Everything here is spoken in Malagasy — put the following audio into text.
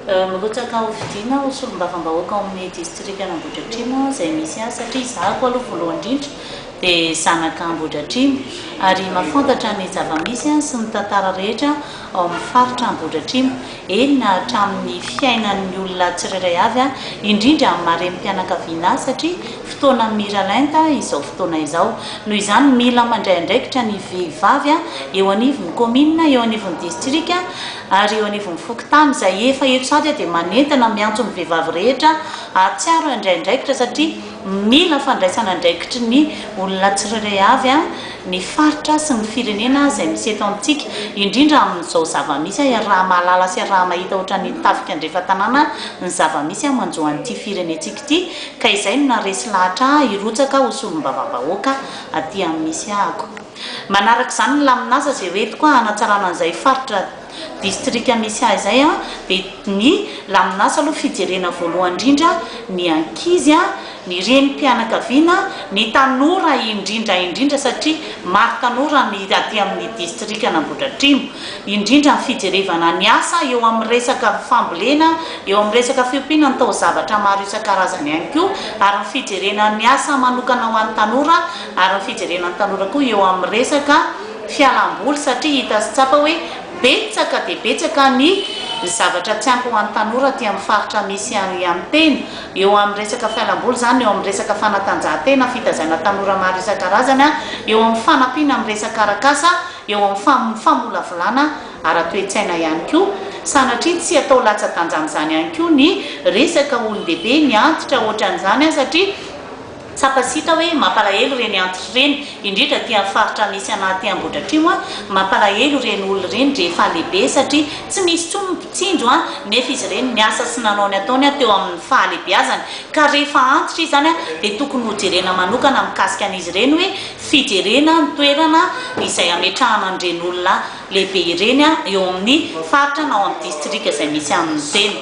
Mirotsaka hofidiana ho solombavambahoaka ao amin'ny distrikan'Ambohidratrimo aho izay misy ahy satria izaho koa aloha voalohany indrindra dia zanaka Ambohidratrimo ary mahafantatra ny zava-misy sy ny tantara rehetra ao amin'ny faritra Ambohidratrimo, eny na hatramin'ny fiainan'ny olona tsirairay avy indrindra amin'ny maha renim-pianakaviana ahy satria. fotoana miralenta izao fotoana izao. Noho izany, mila mandray andraikitra ny vehivavy eo anivon'ny kaominina, eo anivon'ny distrika ary eo anivon'ny fokontany. Izay efa eto sahady aho dia manentana, miantso ny vehivavy rehetra hahatsiaro ny handray andraikitra satria mila fandraisana andraikitry ny olona tsirairay avy, ny faritra sy ny firenena izay misy eto amintsika, indrindra amin'izao zava-misy iaraha-mahalala sy iaraha-mahita ohatran'ny tafika andrefa-tanàna ny zava-misy manjo an'ity firenentsika. ity ka izay no naharesy lahatra ahy hirotsaka ho solombavambahoaka aty amin'ny misy ahako. Manaraka izany ny lamin'asa izay hoentiko hanatsarana an'izay faritra distrika misy ahy izay dia ny lamin'asa aloha fijerena voalohany indrindra ny ankizy, ny renim-pianakaviana, ny tanora indrindra indrindra satria maro tanora ny aty amin'ny distrikan'Ambohidratrimo. indrindra ny fijerevana ny asa eo amin'ny resaka fambolena, eo amin'ny resaka fiompiana ny taozavatra maro isan-karazany ihany koa, ary ny fijerena ny asa manokana ho an'ny tanora, ary ny fijerena ny tanora koa eo amin'ny resaka fialam-boly satria hita sy tsapa hoe betsaka dia betsaka ny zavatra tsy ampy ho an'ny tanora aty amin'ny faritra misy ahy ihany tena eo amin'ny resaka fialam-boly izany, eo amin'ny resaka fanatanjahantena, fitaizana tanora maro isan-karazany, eo amin'ny fanampiana amin'ny resaka arak'asa. eo amin'ny famolavolana ara-toe-tsaina ihany koa, sanatria tsy atao latsa-danjan'izany ihany koa ny resaka olon-dehibe ny antitra ohatran'izany an, satria tsapa sy hita hoe mampalahelo ireny antitra ireny, indrindra aty amin'ny faritra misy anah aty Ambohidratrimo an, mampalahelo ireny olona ireny rehefa lehibe satria tsy misy intsony ny mpitsinjo an, nefa izy ireny niasa sy nanao ny ataony an teo amin'ny fahalehibeazany, ka rehefa antitra izy izany an dia tokony hojerena manokana mikasika an'izy ireny hoe fijerena ny toerana izay hametrahana an'ireny olona lehibe ireny eo amin'ny faritra na ao amin'ny distrika izay misy an'ny tsena.